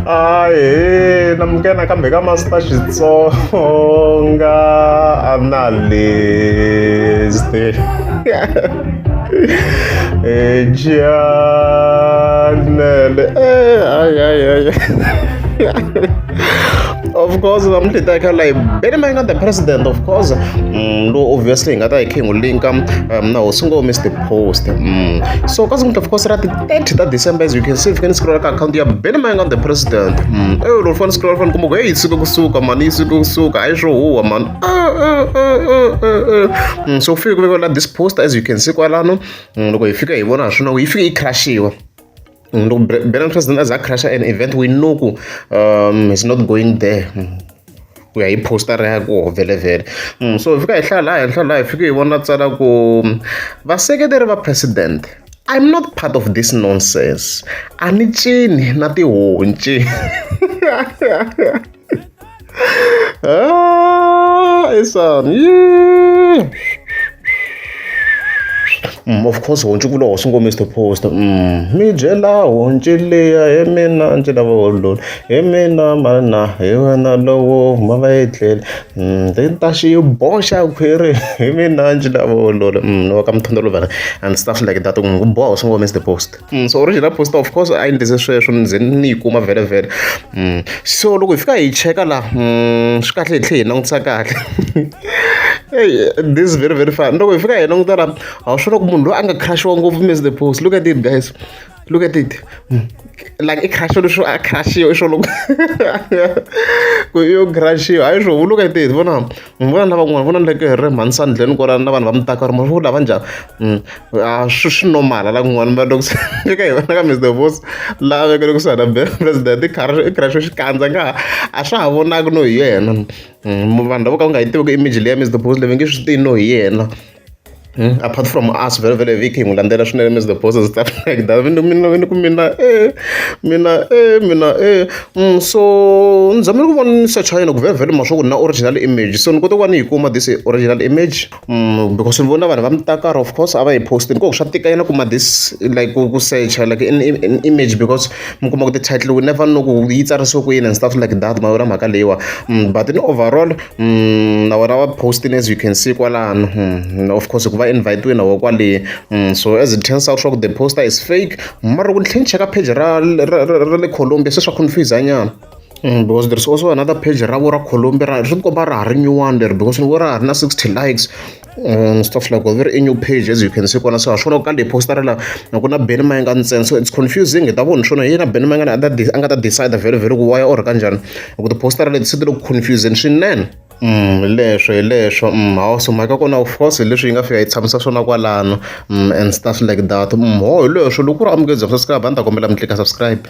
ahe na munghena kambe ka masita xitsonga analyste ejanele ayayaya of course namuntlha hi ta kha layi bene mayina the president of course mm, lo obviously hi nga ta hi khe hi n'wi linka um, na hosi ngome is the post mm. so kasi muntlha of course ra ti 30 ta december as you can see fika ni scrolla ka akhawunti ya beni mayanga the president mm. eyo loko fane scrolla fane kumbe ku heyi siku kusuka mani yi siku kusuka hayi swo huwa mani mm, so ku fike ku vekela this poster as you can see kwalano mm, loko hi fika hi vona ha swona yi fike yi crashiwa mm, loko bena president as a crasha an event we know ku um, is not going there mm. ku ya hi poster ya koho vhelevhele mm, so hi fika hi hlaya laha henhla laha hi fike hi vona tsala ku mm, vaseketeri va president i'm not part of this nonsense a ni cini na tihonci ah, isan yeah. Mm, of course honci ku loho swi ngo mr poster mm, mi byela honci leya hi mina ndzi lava hololo hi mina mhani na hi wena lowo huma va yi tlele ndzi ta xi boxa khwiri hi mina ndzi la vulolo ni wa ka mthondzo lovela and stuff like that ku n'wi boha swi ngo miss the post so original post of course a yi ndlise sweswo ni ze ni yi kuma vhele vhele so loko hi fika hi cheka la swi kahle hi tlhela hi langutisa kahle this is very very fun loko hi fika hi languta la a wu swi vona ku munhu loyi a nga crush-iwa ngopfu miss the post look at it guys Look at it. Mm. Like it crash sho a crash yo sho look. Ku yo crash yo. Ayi sho look at it. Vona. Vona lava kun'wana vona like re mhansani dleni ko rana vanhu va mi taka ri ma vula vanja. Mm. Ah shu shu normal la kun'wana ma loko eka hi vona ka Mr. Boss la veke loko sana be president i crash i crash xi kandza nga a swa ha vonaka no hi yena. Mm, vanhu lavo ka va nga yi tivi ku image leya Mr. Boss leyi nge swi tivi no hi yena. Apart from us vhele vhele Vick hi n'wi landzela swinene Mister Boss and stuff like that mina ni ku mina e mina e mina e so ni zamile ku vona ni search yona ku vhele vhele ma swa ku na original image so ni kote ku va ni yi kuma this original image because ni vona vanhu va mitakara of course a va yi post ni ku swa tika yena kuma this like ku ku search like in in image because mi kuma ku ti-title we never know ku yi tsarisiwe ku yini and stuff like that ma yona mhaka leyiwa but in overall na vona va post-ini as you can see kwalano of course hikuva invite-iwe na voho kwale so as it turns out swa ku the poster is fake mara loko ni tlhe ni cheka page ra ra ra le colombia se swa confuse nyana Mm, because there's also another page ra vo ra colombia ra ri komba ra ha ri nyuwani leri because ni vo ra ha ri na 60 likes and stuff like that very new page as you can see kona so ha swona ku ka leyi postara la na ku na beni ma nga ntsena so it's confusing hi ta vona swona yena beni ma nga na a nga ta decide very very ku waya or ka njhani hi ku tipostara leti se ti le ku confusing swinene Mm, leswo hi leswo mm, hawu so mhaka kona of course hi leswi yi nga fika yi tshamisa swona kwalano mm, and stuff like that mm, ho hi leswo loko ku ri amukedzaka subscribe a ni ta kombela mi tlika subscribe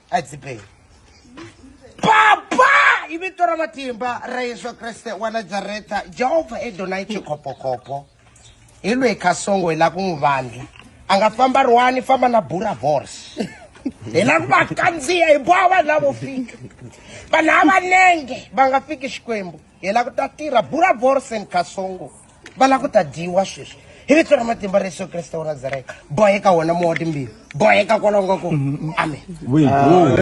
a hi dzibeni papa i vito ra matimba ra yesu kreste wa nazaretha jehovha edonai chikhopokopo hi lweyi khasongo hi lava ku n'wi vandla a nga famba ri wani famba na bura vors hi lava ku va kandziya hi boha vanhu lavo fika vanhu havanenge va nga fiki xikwembu hi lava ku ta tirha buravorsen kasongo va lava ku ta dyiwa sweswi hi vito ra matimba ra yesu kreste wa nazareta boheka wona mowa timbili boheka kwalongo ko amen